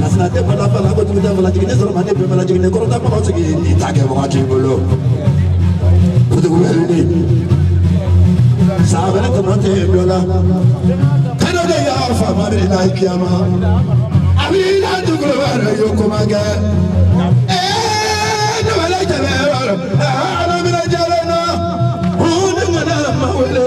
Lasina tɛ bala bala ko jugu tɛ bala jigin ne sɔrɔ ma ne bɛ bala jigin ne kɔrɔta kɔnɔ sigi ni ta kɛ wagati in bolo. Kutubu bɛ wuli. San wɛrɛ tɔmɔ tɛ yen dɔ la. Kɛnɛ de y'a faama de la kiyama. A b'i la dugukolo wɛrɛ y'o ko ma kɛ. Ee ne bɛ la jɛnɛ yɔrɔ la. Aa ala minɛ jɛnɛ na. Hu ne ŋana ma wele.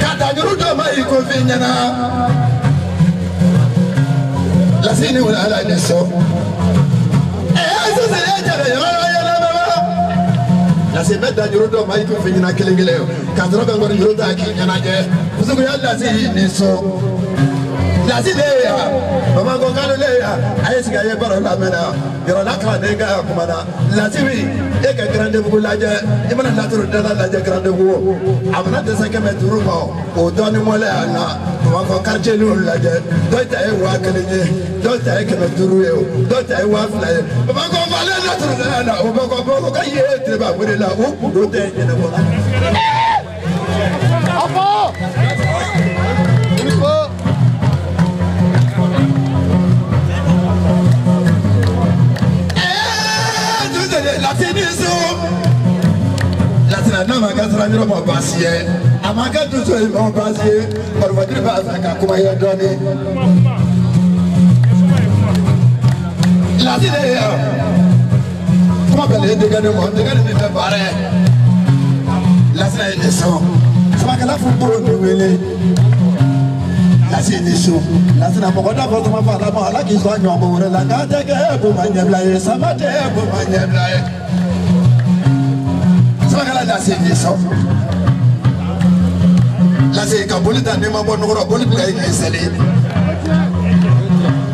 ka tajuru dɔ ma i ko fi ɲɛna lasi ni wula ala ni su ɛɛ sisan e jɛnɛ yɔrɔ yɛlɛ bɛ wa lasi bɛ tajuru dɔ ma i ko fi ɲɛna kelen kelen ka sɔrɔ ka nkɔni juru ta k'i ɲɛnajɛ musokunya lasi i ni su lasi de ye yan bamakɔ kalo de ye yan a ye sigi a ye baro lamɛn na yɔrɔ la kalanden ka kuma na. lasi wuli e ka garandebugu lajɛ i mana laturu dala lajɛ garandebugu a mana dɛsɛ kɛmɛ duuru ma o dɔɔni mɔlɛ a la u b'a fɔ quartier niw lajɛ dɔw ta ye waa kelen ye dɔw ta ye kɛmɛ duuru ye o dɔw ta ye waa fila ye u b'a fɔ falen laturu dala la u b'a fɔ ko ka ye tebabere la u kundo tɛ ɲɛnabɔ la. n'a ma kɛ sira yɔrɔ ma baasi ye a ma kɛ dusu ye ma baasi ye barobajiri b'a fɛ ka kuma ye dɔɔni. lasina ye kuma bɛɛ de ye denkɛ de ma denkɛ de bɛ fɛ baara ye lasina ye ne sɔn samakɛla fo bolo de wele lasi ni su lasina mɔgɔ da fɔ tuma fɔ ala ma ala k'i sɔn ɲɔgɔn ko wɛrɛ la k'a tɛ kɛ ko ma ɲɛbila ye sama tɛ ko ma ɲɛbila ye samakɛla lasi ni su lasi ka boli ta n'i ma bɔ nɔgɔrɔ boli bila i k'i seli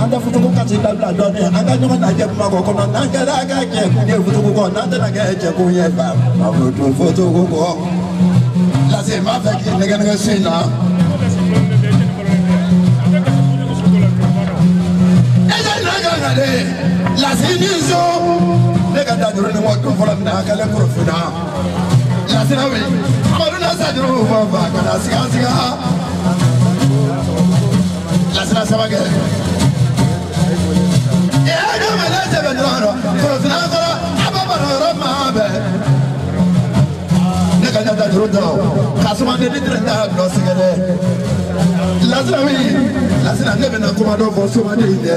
an tɛ futuku kasi dabila dɔɔni an ka ɲɔgɔn lajɛ kuma kɔ kɔnɔ n'an kɛra ka jɛkun ye futuku kɔ n'an tɛna kɛ jɛkun ye ba ma futu futuku kɔ lasi n b'a fɛ k'i nɛgɛn nɛgɛn su in na. e ka na ka kan dɛ lasi ni su ne ka da juru ni mɔdon fɔlɔ min na a kɛlen korofina. Lasina wuli Amadu na sa juru fa fa ka na siga siga Lasina saba kɛ Ee ne ma ne sɛbɛn dɔrɔn dɔrɔn Korofina kɔrɔ a b'a baro yɔrɔ maa bɛɛ Ne ka ɲɛta juru dɔrɔn ka suma ne ni tɛrɛ t'a nɔ sɛgɛn dɛ Lasina wuli Lasina ne bɛna kuma dɔ fɔ suma de ye dɛ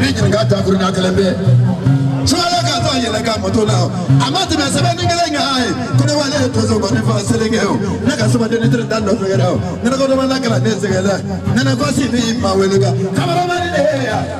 Ɲininka ta kelen bɛ su ka taa yɛlɛ ka moto la a ma tɛmɛ sɛbɛn ni kelen kan ye ko ne wale toso ko ne fa seli kɛ o ne ka sɛbɛn ni teri dan nɔfɛ o ne ko ne ma na kalan ne sɛgɛn dɛ ne ko si ni ma wele kan kameramani de ye yan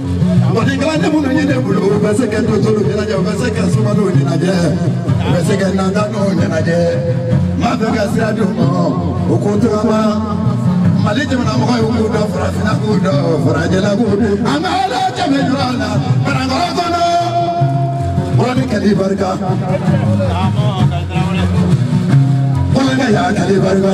Mɔni kalanden minnu ye ne bolo u bɛ se ka dɔtɔrɔ ɲɛnajɛ u bɛ se ka sumadenw ɲɛnajɛ u bɛ se ka nantanw ɲɛnajɛ n b'a fɛ ka sira di u ma u k'u tagama mali jamana mɔgɔ ye k'u dɔn farafinna k'u dɔn farajɛla k'u dɔn an ka ala jɛmɛ jura la banankɔrɔ kɔnɔ mɔni kɛli barika mɔni ka yaa kɛli barika.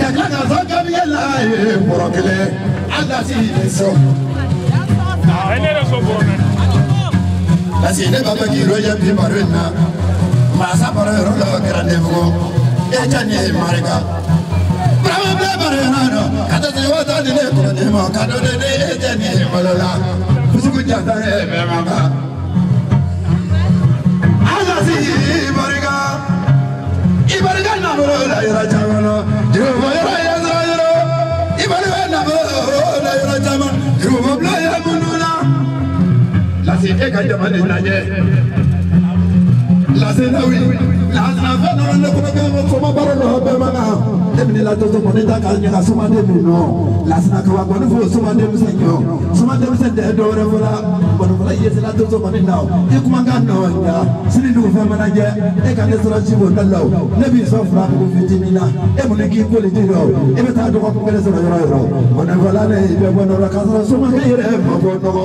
Kɛlɛ ka fɔ gabiya la ye bɔrɔ kelen a lasi ye sɔn. A ne yɛrɛ sɔn bɔrɔ naani. Parce que ne b'a fɛ k'i lajɛ bi baro in na mansa baro yɔrɔ dɔ kɛra ne bolo Etiɛni i barika. Burama bɛ baro yɔrɔ dɔ ka taa se waa tan ni ne kɔrɔ ne ma ka dɔ ne ne Etiɛni ye bolo la. Kusugu jata ye bɛɛ ma ban. A Lasi i barika. e ka jama de lajɛ lasenawi lasinafɛn nana ne kɔnɔ kɛ ko soma baara dɔ bɛɛ ma kan e bɛ ne la tɔtɔ mɔni ta k'a ɲɛ ka sumaden min nɔ lasinakawa kɔni fo sumaden bɛ se ɲɔ. Soma denmisɛn tɛ dɔwɛrɛ fɔ la nkɔnifɔla i ye sira to somanin na o i kumakan nɔ ja sini dugu fɛn mana jɛ e ka ne sɔrɔ si b'o da la o ne b'i sɔn furamugu fitinin na e mun ne k'i koli di dɔ e bɛ taa dɔgɔkun kelen sɔrɔ yɔrɔ yɔrɔ nkɔnifɔla ne i bɛ bɔ nɔgɔ la k'a sɔrɔ somakɛ yɛrɛ ma bɔ nɔgɔ.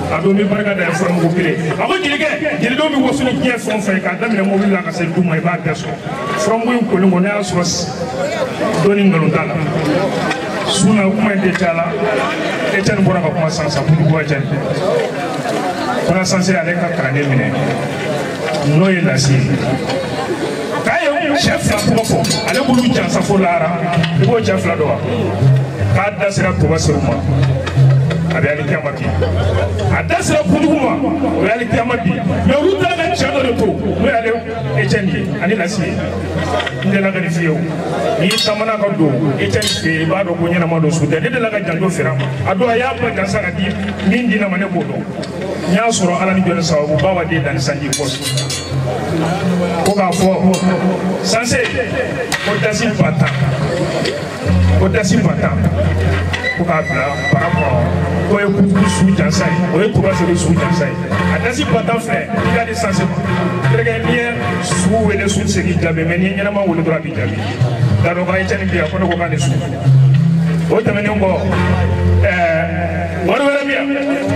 a don bɛ barika da furamugu kelen a ko jelikɛ jelidenw bɛ waso ni diɲɛ fɛn o fɛn ye k'a daminɛ mobili la ka se du ma i b'a bɛɛ sɔrɔ furamugu in kolen kɔ n'a y'a sɔrɔ dɔɔni nkalon t'a la sun na kuma in tɛ caya la etiɛni bɔra ka kuma jansa kudu bɔ etiɛni fana sanse ale ka kalanden minɛ n'o ye lasi ye k'a ye cɛ fila tɔgɔ fɔ ale b'olu jansa fo lahara i b'o cɛ fila dɔn wa k'a da sera toba seyidu ma a bɛ alikiyama bi a da sera kutugu ma o ye alikiyama bi mɛ olu taara ka cɛ dɔ de to n'o y'ale ecɛni ye ani lasi ye n delila ka nin f'i ye o n'i taamana ka don ecɛni fɛ yen i b'a dɔn ko ɲɛnama don su tɛ ne delila ka janto fira ma a don a y'a ba jansa ka di min di na ma ne b'o dɔn n y'a sɔrɔ ala ni jɔn sababu ba wa den dani sanji kɔsu ko k'a fɔ sanse ko dasi ba tan ko dasi ba tan ko k'a bila bara kɔnɔ k'o ye kutuku su jansa ye o ye tuba sebe su jansa ye a dasi ba tan filɛ i k'a di sanse ma terikɛ n'i ye su wele su tɛ se k'i jaabi mɛ n'i ye ɲɛnama wele dɔrɔn a b'i jaabi dadɔn ka ecɛni bi yan ko ne ko k'a ni su o tɛmɛnen kɔ ɛɛ wari wɛrɛ bɛ yan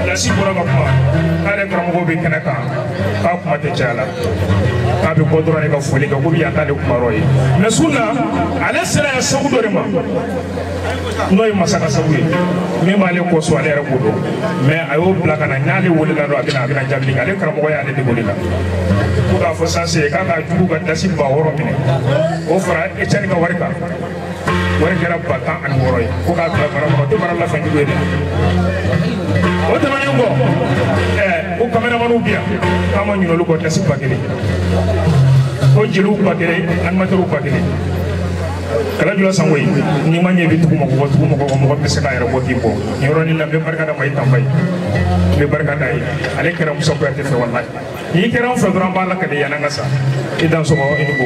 lasi bɔra ka kuma k'ale karamɔgɔ bɛ kɛnɛ kan k'a kuma tɛ caya la k'a bɛ bɔ dɔrɔn de ka foli kɛ komi yan t'ale kuma yɔrɔ ye mɛ su in na ale sera yan sabu dɔ de ma n'o ye masaka sabu ye min b'ale kɔsɔn ale yɛrɛ ko don mɛ a y'o bila ka na n'ale welela dɔrɔn a bɛ na a bɛ na jaabi kɛ ale karamɔgɔ y'ale de wele la ko k'a fɔ sanse k'a ka jugu ka dasi ba wɔɔrɔ minɛ o fara ecɛni ka wari kan wari kɛra ba tan ani wɔɔrɔ ye ko k'a bila bara kɔnɔ debaara lasanjugu ye dɛ o tɛmɛnen kɔ ɛɛ ko kameramanw bi yan k'an ma ɲin'olu kɔ dasi ba kelen ko jeliw ba kelen animatɛriw ba kelen kala jula sangoyi n'i ma ɲɛ i bɛ tugu mɔgɔ kɔ tugu mɔgɔ kɔ mɔgɔ bɛ se k'a yɛrɛ bɔ k'i bɔ nin yɔrɔnin na n bɛ barika da mayi tanba ye n bɛ barika d'a ye ale kɛra musa kuyate fɛ walayi n'i kɛra an fɛ dɔrɔn an b'a lakali yanni an ka sa i dansɔgɔ i ni ko